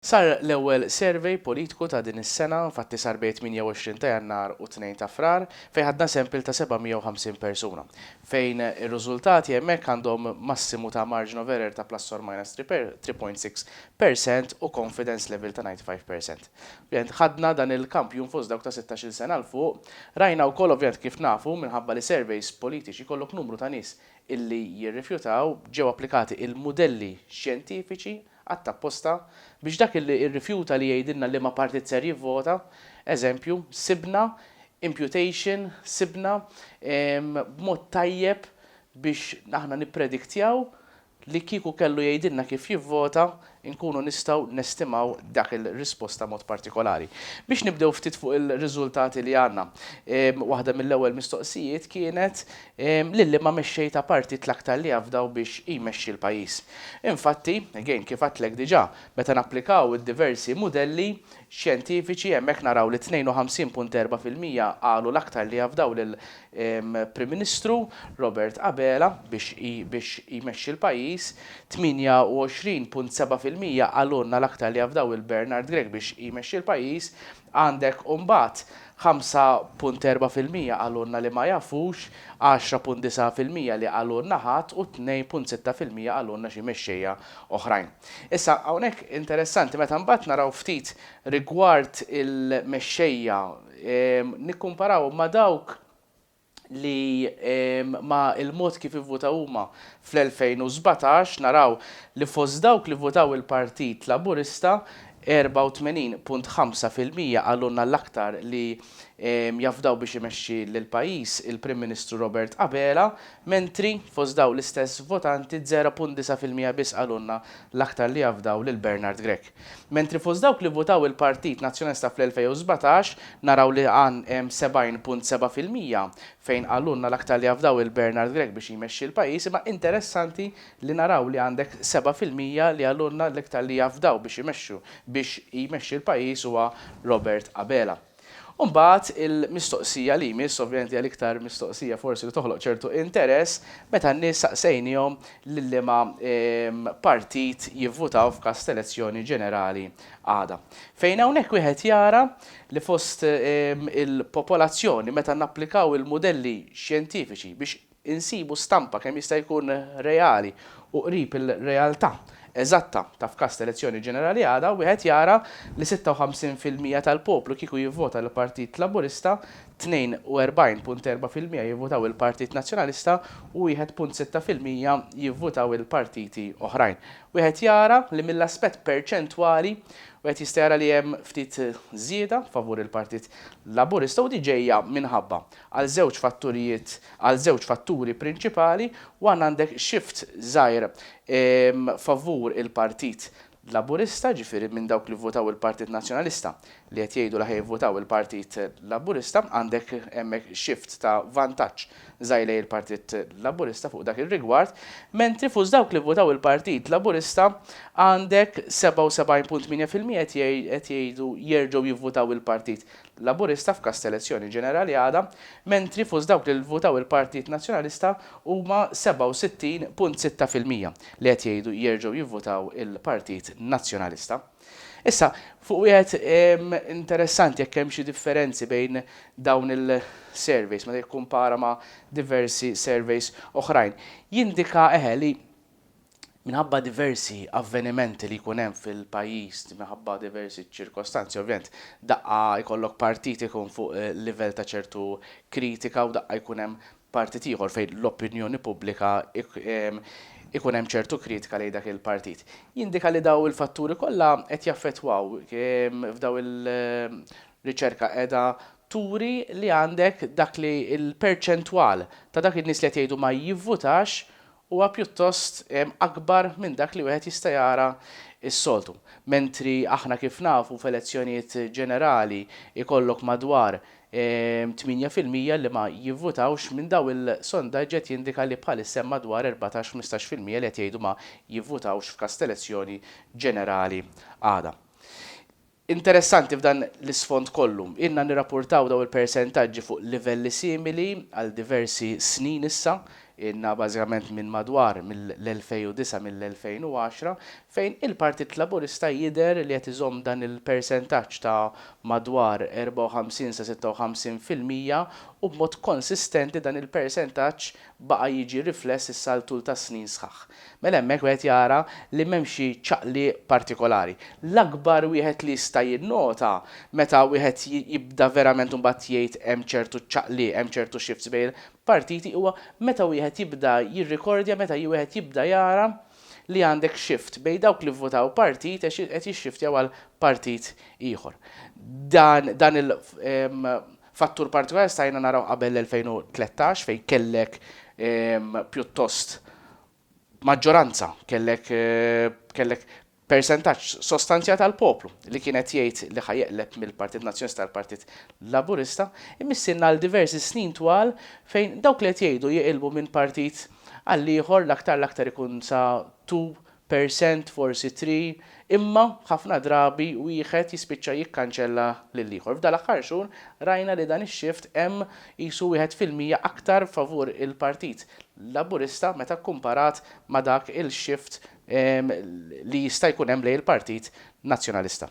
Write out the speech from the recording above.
Sar l-ewwel survey politiku ta' din is-sena, infatti sar bejn 28 ta' Jannar u 2 ta' Frar, fejn ħadna sample ta' 750 persuna, fejn ir-rużultati hemmhekk għandhom massimu ta' margin of error ta' plus or minus 3 per 3.6 per cent u confidence level ta' 95 per cent. Ovvjament ħadna dan il-kampjun fost dawk ta' sittax-il sena 'l fuq. Rajna wkoll ovvjament kif nafu minħabba li surveys politiċi jkollok numru ta' nies illi jirrifjutaw, ġew applikati il-mudelli xjentifiċi, Għadd apposta, biex dak li irrifjuta li jgħidilna liema partit ser jivvota, eżempju, sibna, imputation, sibna, b'mod tajjeb biex aħna nipprediktjaw li kieku kellu jgħidilna kif jivvota, inkunu nistgħu nestimaw dak il-risposta mod partikolari. Biex nibdew ftit fuq il-riżultati li għandna, waħda mill-ewwel mistoqsijiet kienet Lilli ma mexxej ta' partit l-aktar li afdaw biex jmexxi l-pajjiż. Infatti, again, kif għadtlek diġà, meta napplikaw id-diversi mudelli xjentifiċi hemmhekk naraw li 52.4 fil-mija qalu l-aktar li afdaw lil Prim Ministru Robert Abela biex biex jmexxi l-pajjiż, 28.7 fil-mija qalulna l-aktar li afdaw lil Bernard Grech biex jmexxi l-pajjiż, Għandek mbagħad 5.4 fil-mija qalulna li ma jafux, 10.9 fil-mija li qalulna ħadd u 2.6 fil-mija qalulna xi mexxejja oħrajn. Issa, hawnhekk interessanti meta mbagħad naraw ftit rigward il-mexxejja, nikkumparawhom ma' dawk li ma' il-mod kif ivvutaw huma fl-2017 naraw li fost dawk li vvutaw il-Partit Laburista 84.5 fil-mija qalulna l-aktar li jafdaw biex imexxi lill-pajjiż il-Prim Ministru Robert Abela mentri fost dawn l-istess votanti 0.9 fil-mija biss qalulna l-aktar li jafdaw lil Bernard Grech. Mentri fost dawk li vvutaw il-Partit Nazzjonalista fl-2017 naraw li għan 70.7 fil-mija, fejn qalulna l-aktar li jafdaw lil Bernard Grech biex jmexxi l-pajjiż imma interessanti li naraw li għandek 7 fil-mija li qalulna l-iktar li jafdaw biex imexxu biex jmexxi l-pajjiż huwa Robert Abela. U mbagħad il-mistoqsija li jmiss, ovvjament hija l-iktar mistoqsija forsi li toħloq ċertu interess, meta n-nies saqsejniehom lil liema partit jivvutaw f'każ t'elezzjoni ġenerali għada. Fejn hawnhekk wieħed jara li fost il-popolazzjoni meta napplikaw il-mudelli xjentifiċi biex insibu stampa kemm jista' jkun reali u qrib il-realtà eżatta ta' f'każ ta' elezzjoni ġenerali għada, wieħed jara li 56 fil-mija tal-poplu kieku jivvota l-Partit Laburista, 42.4 fil-mija jivvutaw il-Partit Nazzjonalista u 1.6 fil-mija jivvutaw il-partiti oħrajn. Wieħed jara li mill-aspett perċentwali wieħed jista' jara li hemm ftit żieda favur il-Partit Laburista u di ġejja minħabba. għal żewġ fatturijiet, għal żewġ fatturi prinċipali, one għandek shift żgħir favur il-Partit Laburista, ġifieri minn dawk li vvotaw il-Partit Nazzjonalista li qed jgħidu li ħa jivvotaw il-Partit Laburista, għandek hemmhekk shift ta' vantaġġ żgħir lejn il-Partit Laburista fuq dak ir-rigward, mentri fost dawk li vvotaw il-Partit Laburista għandek 77.8 fil-mija qed jgħidu jerġgħu jivvotaw il-Partit Laburista f'każ ta' elezzjoni ġenerali għada, mentri fost dawk li vvutaw il-Partit Nazzjonalista huma 67.6 fil-mija li qed jgħidu jerġgħu jivvutaw il-Partit Nazzjonalista. Issa, fuq wieħed interessanti jekk hemm xi differenzi bejn dawn il-surveys meta jikkumpara ma' diversi surveys oħrajn, jindika eħe li Minħabba diversi avvenimenti li jkun hemm fil-pajjiż, minħabba diversi ċirkostanzi ovvjament, daqqa jkollok partit ikun fuq livell ta' ċertu kritika u daqqa jkun hemm partit ieħor fejn l-opinjoni pubblika ikun hemm ċertu kritika lejn dak il-partit. Jindika li dawn il-fatturi kollha qed jaffettwaw f'dawn il riċerka qiegħda turi li għandek dak li l-perċentwal ta' dak in-nies li qed jgħidu ma jivvutax huwa pjuttost akbar minn dak li wieħed jista' jara s-soltu. Mentri aħna kif nafu f'elezzjonijiet ġenerali jkollok madwar 8 fil-mija li ma jivvutawx, minn dawn il-sondaġġi qed jindika li bħalissa hemm madwar erbatax, ħmistax fil-mija li qed jgħidu ma jivvutawx f'każ t'elezzjoni ġenerali għada. Interessanti f'dan l-isfond kollu, ilna nirrapportaw dawn il-persentaġġi fuq livelli simili għal diversi snin issa, ilna bażikament minn madwar mill-2009 mill-2010, fejn il-Partit Laburista jidher li qed iżomm dan il-persentaġġ ta' madwar 54 sa 56 fil-mija u b'mod konsistenti dan il-persentaġġ baqa' jiġi rifless issa għal tul ta' snin sħaħ. Mela hemmhekk wieħed jara li m'hemm xi ċaqliq partikolari. L-akbar wieħed li jista' jinnota meta wieħed jibda verament imbagħad jgħid hemm ċertu ċaqliq, hemm ċertu shifts bejn il-partiti huwa meta wieħed jibda jirrikordja meta wieħed jibda jara li għandek shift bejn dawk li vvutaw partit qed jixxiftjaw għal partit ieħor. Dan dan il Fattur partikolari stajna naraw qabel l-2013 fejn kellek pjuttost maġġoranza, kellek kellek persentaġġ sostanzjat tal-poplu li kien qed jgħid li ħa jeqleb mill-Partit Nazzjonista għal Partit Laburista, imissierna għal diversi snin twal fejn dawk li qed jgħidu jiqilbu minn partit għall-ieħor l-aktar l-aktar ikun sa two percent forsi three, imma ħafna drabi wieħed jispiċċa jikkanċella lill-ieħor. F'dan l-aħħar xhur rajna li dan ix-shift hemm qisu wieħed fil-mija aktar favur il-Partit Laburista meta kkumparat ma' dak il-shift li jista' jkun hemm lejn il-Partit Nazzjonalista.